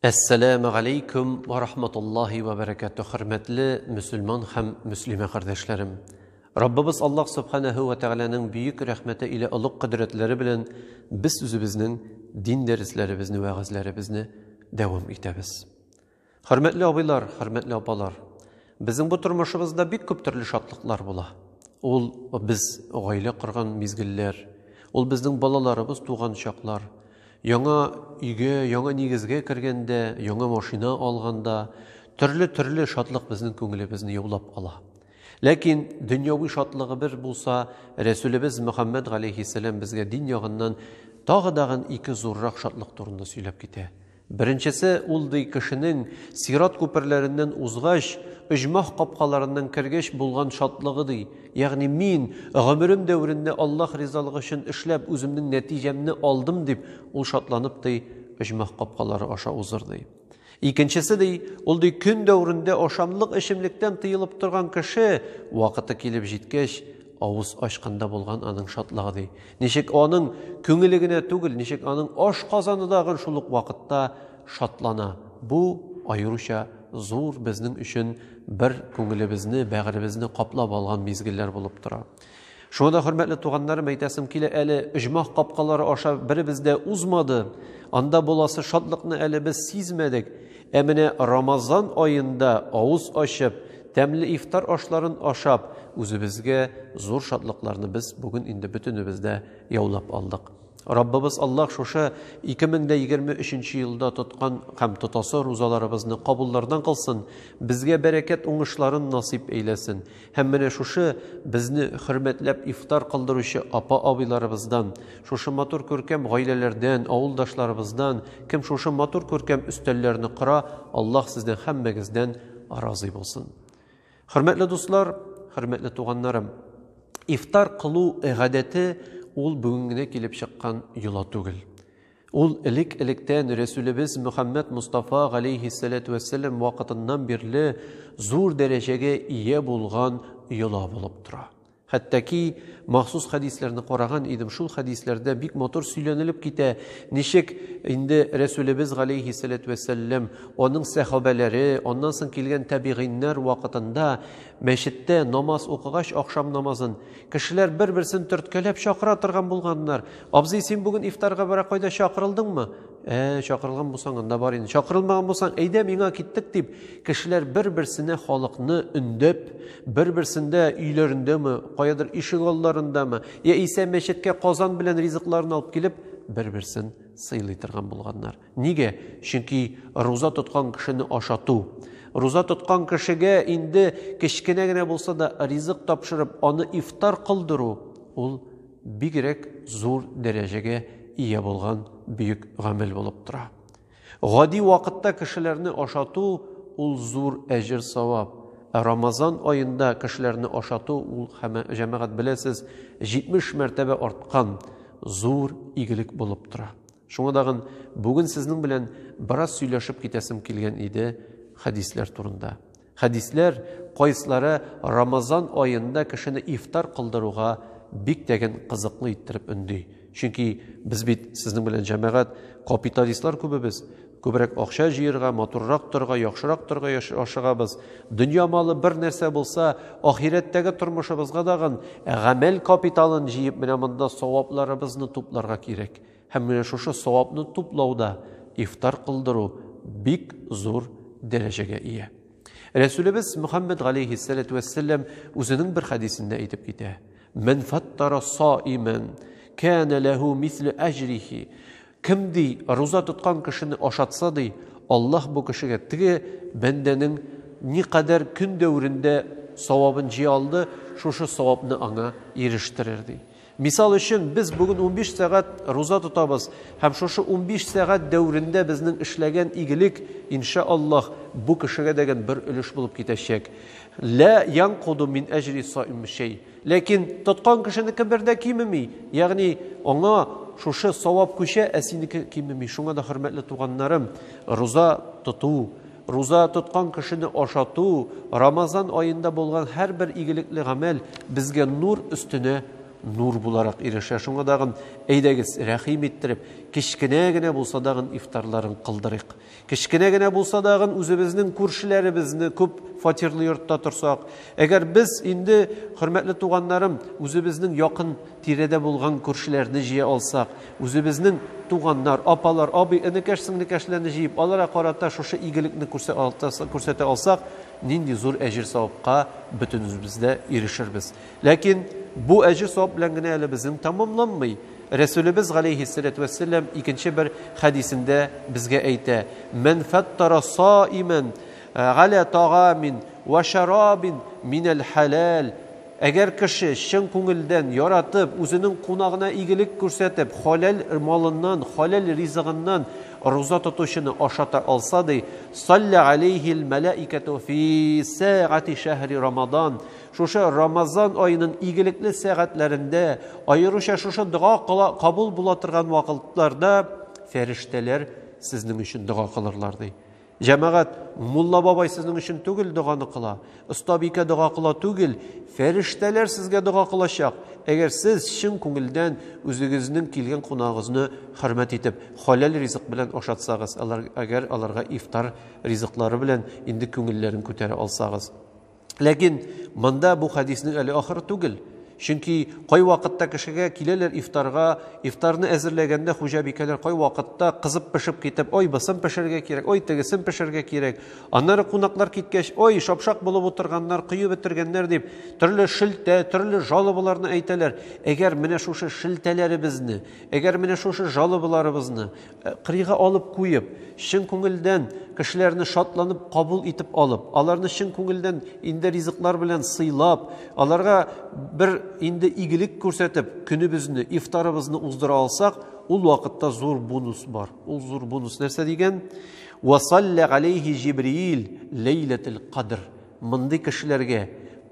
Әссәләмә галәйкүм ва рахматуллаһи ва бәрәкәтү, хөрмәтле мөселман һәм мөслимә кардәшләрем. Раббыбыз Аллаһ Субханаһу ва Тәгаләнең бөек рәхмәте иле олуг кодрәтләре белән без үзебезнең дин дәресләребезне, вәгазьләребезне дәвам итәбез. Хөрмәтле абыйлар, хөрмәтле апалар, Безнең бу тормышыбызда бик күп төрле шатлыклар була. Ул без гаилә корган мизгелләр, ул безнең балаларыбыз туган чаклар, яңа өйгә, яңа нигезгә кергәндә, яңа машина алганда, төрле-төрле шатлык безнең күңелебезне яулап ала. Ләкин дөньяви шатлыгы бер булса, Рәсүлебез Мөхәммәд галәйһиссәлам безгә дин ягыннан тагы дагын ике зуррак шатлык турында сөйләп китә. Беренчесе ул ди кешенең, сират күперләреннән узгач, оҗмах капкаларыннан кергәч булган шатлыгы ди, ягъни мин, гомерем дәверендә Аллаһ ризалыгы өчен эшләп, үземнең нәтиҗәмне алдым дип, ул шатланып ди, оҗмах капкалары аша узыр ди. Икенчесе ди, ул ди көн дәверендә ашамлык-эчемлектән тыелып торган кеше, вакыты килеп җиткәч, Авыз ачканда булган аның шатлыгы ди. Ничек аның күңеле генә түгел, ничек аның ашказаны да гын шул ук вакытта шатлана. Бу, аеруча зур, безнең өчен бер күңелебезне, бәгыребезне каплап алган мизгелләр булып тора. Шуңа да, хөрмәтле туганнарым, әйтәсем килә, әле оҗмах капкалары аша беребез дә узмады, анда буласы шатлыкны әле без сизмәдек. Ә менә Рамазан аенда авыз ачып, тәмле ифтар ашларын ашап, үзебезгә зур шатлыкларны без бүген инде бөтенебез дә яулап алдык. Раббыбыз Аллаһ шушы 2023 елда тоткан һәм тотасы рузаларыбызны кабуллардан кылсын, безгә бәрәкәт уңышларын насыйп әйләсен. Һәм менә шушы безне хөрмәтләп ифтар кылдыручы апа-абыйларыбыздан, шушы матур күркәм гаиләләрдән, авылдашларыбыздан, кем шушы матур күркәм өстәлләрне кора, Аллаһ сездән һәммәгездән разый булсын. Хөрмәтле дуслар, хөрмәтле туганнарым, ифтар кылу гадәте ул бүген генә килеп чыккан йола түгел. Ул элек-электән Рәсүлебез Мөхәммәд Мостафа галәйһиссәләтү вәссәлам вакытыннан бирле зур дәрәҗәгә ия булган йола булып тора. Хәтта ки, махсус хәдисләрне караган идем, шул хәдисләрдә бик матур сөйләнелеп китә, ничек инде Рәсүлебез галәйһиссәләтү вәссәлам, аның сәхабәләре, аннан соң килгән тәбигыйннәр вакытында мәчеттә намаз укыгач, ахшам намазын, Кешеләр бер-берсен төрткәләп чакыра торган булганнар. Абзый, син бүген ифтарга бара кайда чакырылдыңмы? Ә, чакырылган булсаң, анда бар инде. Чакырылмаган булсаң, әйдә миңа киттек дип, кешеләр бер-берсенә халыкны өндәп, бер-берсендә өйләрендәме, каядыр ишек алларындамы, яисә мәчеткә казан белән ризыкларын алып килеп, бер-берсен сыйлый торган булганнар. Нигә? Чөнки руза тоткан кешене ашату. Руза тоткан кешегә инде кечкенә генә булса да ризык тапшырып, аны ифтар кылдыру, ул бигрәк зур дәрәҗәгә ия булган бөек гамәл булып тора. Гади вакытта кешеләрне ашату, ул зур әҗер-савап. Ә Рамазан аенда кешеләрне ашату, ул, җәмәгать, беләсез, 70 мәртәбә арткан зур игелек булып тора. Шуңа тагын бүген сезнең белән бераз сөйләшеп китәсем килгән иде хәдисләр турында. Хәдисләр кайсылары Рамазан аенда кешене ифтар кылдыруга бик тәген кызыклы иттереп өнди. Чөнки без бит сезнең белән җәмәгать капиталистлар күбебез. Күбрәк акча җыерга, матуррак торга, яхшырак торга ашыгабыз. Дөнья малы бер нәрсә булса, ахирәттәге тормышыбызга тагын гамәл капиталын җыеп менә монда савапларыбызны тупларга кирәк. Һәм менә шушы савапны туплауда ифтар кылдыру бик зур дәрәҗәгә ия. Рәсүлебез Мөхәммәд галәйһиссәләтү вәссәлам үзенең бер хәдисендә әйтеп китә. Мен фаттара саимен, кәнә ләһу мислю әҗрихи. Кем ди, руза тоткан кешене ашатса ди, Аллаһ бу кешегә теге бәндәнең ни кадәр көн дәверендә савабын җыя алды, шушы савапны аңа ирештерер ди. Мисал өчен, без бүген унбиш сәгать руза тотабыз, һәм шушы унбиш сәгать дәверендә безнең эшләгән игелек, инша Аллаһ, бу кешегә дәген бер өлеш булып китәчәк. Лә янкуду мин әҗри саим шәй. Ләкин тоткан кешенеке бер дә кимеми, ягъни аңа шушы савап күчә, ә синеке кимеми. Шуңа да, хөрмәтле туганнарым, руза тоту, Руза тоткан кешене ашату, Рамазан аенда булган һәрбер игелекле гамәл безгә нур өстенә нур буларак ирешә. Шуңа дагын әйдәгез, рәхим иттереп, кечкенә генә булса дагын ифтарларын кылдырыйк. Кечкенә генә булса дагын үзебезнең күршеләребезне күп фатирлы йортта торсак, әгәр без инде хөрмәтле туганнарым, үзебезнең якын тирәдә булган күршеләрне җыя алсак, Үзебезнең туганнар, апалар, абый, энекәш, сеңлекәшләрне җыеп, аларга карата шушы игелекне күрсәтә алсак, нинди зур әҗер-савапка бөтенебез дә ирешербез. Ләкин бу әҗер-савап белән генә әле безнең тәмамланмый. Рәсүлебез галәйһиссәләтү вәссәлам икенче бер хәдисендә безгә әйтә, Мән фәттара саимән галә тагамин вә шәрабин минәл хәләл Әгәр кеше чын күңелдән, яратып, үзенең кунагына игелек күрсәтеп, халәл малыннан, халәл ризыгыннан руза тотучыны ашата алса, ди, саллә галәйһил мәләикәтү фи сәгати шәһри рамадан, шушы рамазан аеның игелекле сәгатьләрендә, аеруча шушы дога кабул була торган вакытларда фәрештәләр сезнең өчен дога кылырлар, ди. Җәмәгать, мулла бабай сезнең өчен түгел доганы кыла, остабикә дога кыла түгел, фәрештәләр сезгә дога кылачак. Әгәр сез чын күңелдән үзегезнең килгән кунагыгызны хөрмәт итеп, халәл ризык белән ашатсагыз, алар әгәр аларга ифтар ризыклары белән инде күңелләрен күтәрә алсагыз. Ләкин монда бу хәдиснең әле ахыры түгел. Чөнки кай вакытта кешегә киләләр ифтарга, ифтарны әзерләгәндә хуҗабикәләр кай вакытта кызып пешеп китеп, ой, бысын пешерергә кирәк, ой, тегесен пешерергә кирәк. Аннары кунаклар киткәч, ой, шапшак булып утырганнар, коеп бетергәннәр дип, төрле шелтә, төрле жалобаларны әйтәләр. Әгәр менә шушы шелтәләребезне, әгәр менә шушы жалобаларыбызны Кырыйга алып куеп, чын күңелдән кешеләрне шатланып кабул итеп алып, аларны чын күңелдән инде ризыклар белән сыйлап, аларга бер инде игелек күрсәтеп, көнебезне, ифтарыбызны уздыра алсак, ул вакытта зур бонус бар. Ул зур бонус нәрсә дигән? Васаллә галейхи Җибриил ләйләтел кадр. Мондый кешеләргә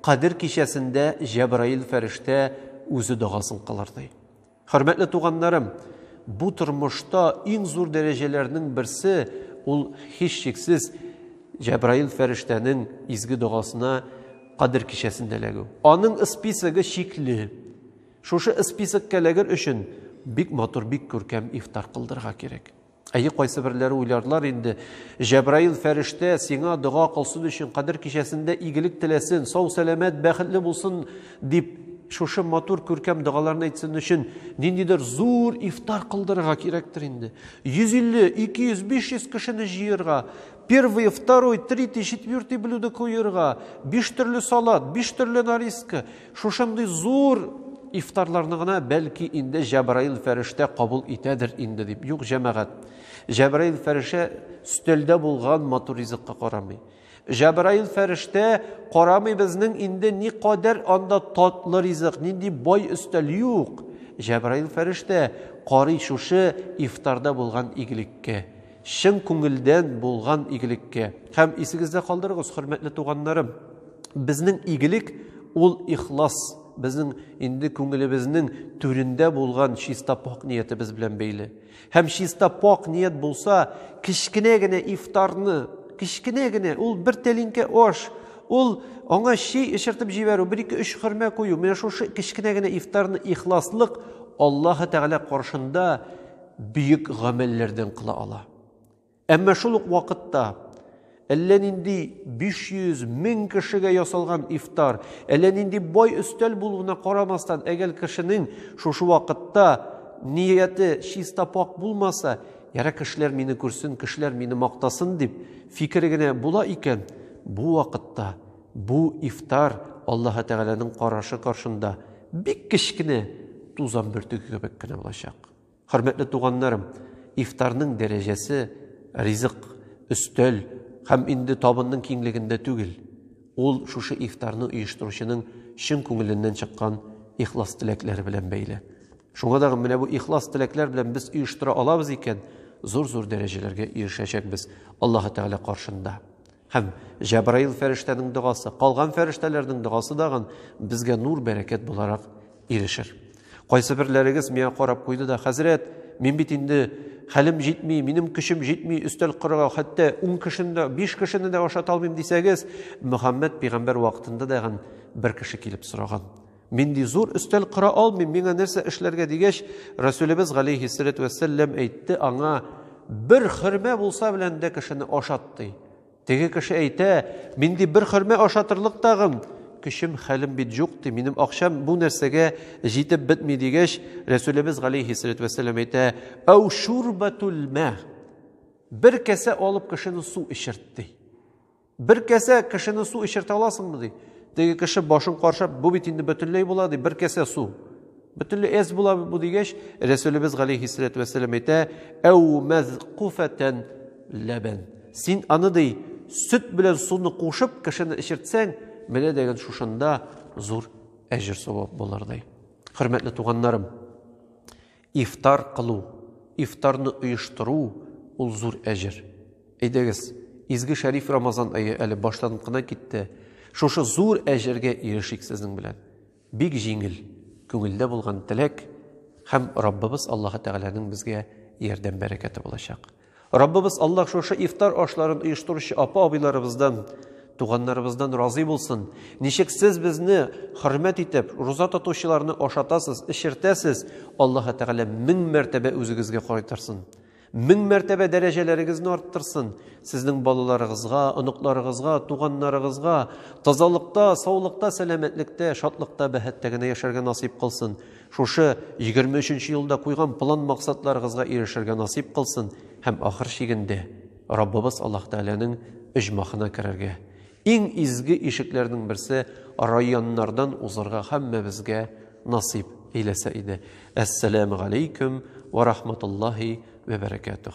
Кадер кичәсендә Җәбраил фәрештә үзе дагасын кылыр ди. Хөрмәтле туганнарым, бу тормышта иң зур дәрәҗәләрнең берсе ул һичшиксез Җәбраил фәрештәнең изге догасына кадер кичәсендә эләгү. Аның списогы чикле. Шушы списокка эләгер өчен бик матур, бик күркәм ифтар кылдырырга кирәк. Әйе, кайсы берләре уйларлар инде. Җәбраил фәрештә сиңа дога кылсын өчен кадер кичәсендә игелек теләсен, сау-сәламәт, бәхетле булсын дип шушы матур күркәм догаларны әйтсен өчен ниндидер зур ифтар кылдырырга кирәктер инде. 150, 200, 500 кешене җыерга, Первый, второй, третий, четвертый блюдо куерга, биш төрле салат, биш төрле нарезка. Шушындый зур ифтарларны гына бәлки инде Җәбраил фәрештә кабул итәдер инде дип. Юк, җәмәгать. Җәбраил фәрештә стөлдә булган матур ризыкка карамый. Җәбраил фәрештә карамый безнең инде ни кадәр анда татлы ризык, нинди бай өстәл юк. Җәбраил фәрештә карый шушы ифтарда булган игелеккә. чын күңелдән булган игелеккә. Һәм исегездә калдырыгыз, хөрмәтле туганнарым, безнең игелек ул ихлас, безнең инде күңелебезнең түрендә булган чиста пак ниятебез белән бәйле. Һәм чиста пак ният булса, кечкенә генә ифтарны, кечкенә генә, ул бер тәлинкә аш, ул аңа чәй эчертеп җибәрү, бер ике өч хөрмә кую, менә шушы кечкенә генә ифтарны ихласлык Аллаһы Тәгалә каршында бөек гамәлләрдән кыла ала. Әмма шул ук вакытта әллә нинди 500 мең кешегә ясалган ифтар, әллә нинди бай өстәл булуына карамастан, әгәр кешенең шушы вакытта нияте чиста пак булмаса, яра кешеләр мине күрсен, кешеләр мине мактасын дип фикере генә була икән, бу вакытта бу ифтар Аллаһ Тәгаләнең карашы каршында бик кечкенә тузан бөртеге кебек кенә булачак. Хөрмәтле туганнарым, ифтарның дәрәҗәсе ризык, өстәл һәм инде табынның киңлегендә түгел. Ул шушы ифтарны оештыручының чын күңеленнән чыккан ихлас теләкләре белән бәйле. Шуңа да менә бу ихлас теләкләр белән без оештыра алабыз икән, зур-зур дәрәҗәләргә ирешәчәкбез Аллаһы Тәгалә каршында. Һәм Җәбраил фәрештәнең догасы, калган фәрештәләрнең догасы дагын безгә нур, бәрәкәт буларак ирешер. Кайсы берләрегез миңа карап куйды да, хәзрәт, мин бит инде хәлем җитми, минем көчем җитми, өстәл корырга хәтта 10 кешене дә, 5 кешене дә ашата алмыйм дисәгез, Мөхәммәд пигамбәр вакытында да бер кеше килеп сораган. Мин ди зур өстәл кора алмыйм, миңа нәрсә эшләргә дигәч, Расүлебез галәйһиссәләтү вәссәлләм әйтте аңа, бер хөрмә булса белән дә кешене ашат ди. Теге кеше әйтә, мин ди бер хөрмә ашатырлык тагын, көчем, хәлем бит җук ди, минем акчам бу нәрсәгә җитеп бетми дигәч, Расүлебез галәйһиссәләтү вәссәлләм әйтә, әү шурбатул мә, бер кәсә алып кешене су эчерт ди. Бер кәсә кешене су эчертә аласыңмы, ди. Теге кеше башын каршап, бу бит инде бөтенләй була, ди, бер кәсә су. Бөтенләй эз була бу дигәч, Рәсүлебез галәйһиссәләтү вәссәлам әйтә, әү мәзкуфәтән ләбән. Син аны, ди, сөт белән суны кушып кешене эчертсәң, менә дигән шушында зур әҗер савап булыр, ди. Хөрмәтле туганнарым, Ифтар кылу, ифтарны оештыру, ул зур әҗер. Әйдәгез, изге шәриф Рамазан ае әле башланып кына китте. Шушы зур әҗергә ирешик сезнең белән. Бик җиңел, күңелдә булган теләк һәм Раббыбыз Аллаһы Тәгаләнең безгә ярдәм бәрәкәте булачак. Раббыбыз Аллаһ шушы ифтар ашларын оештыручы апа-абыйларыбыздан, туганнарыбыздан разый булсын. Ничек сез безне хөрмәт итеп, руза тотучыларны ашатасыз, эчертәсез, Аллаһы Тәгалә мең мәртәбә үзегезгә кайтарсын. Мең мәртәбә дәрәҗәләрегезне арттырсын. Сезнең балаларыгызга, оныкларыгызга, туганнарыгызга тазалыкта, саулыкта, сәламәтлектә, шатлыкта, бәхеттә генә яшәргә насыйп кылсын. Шушы егерме өченче елда куйган план-максатларыгызга ирешергә насыйп кылсын һәм ахыр чигендә Раббыбыз Аллаһ Тәгаләнең оҗмахына керергә, иң изге ишекләрнең берсе Райяннардан узырга һәммәбезгә насыйп эйләсә иде. Әссәләмегаләйкем вә рахматуллаһи вә бәрәкәтүх.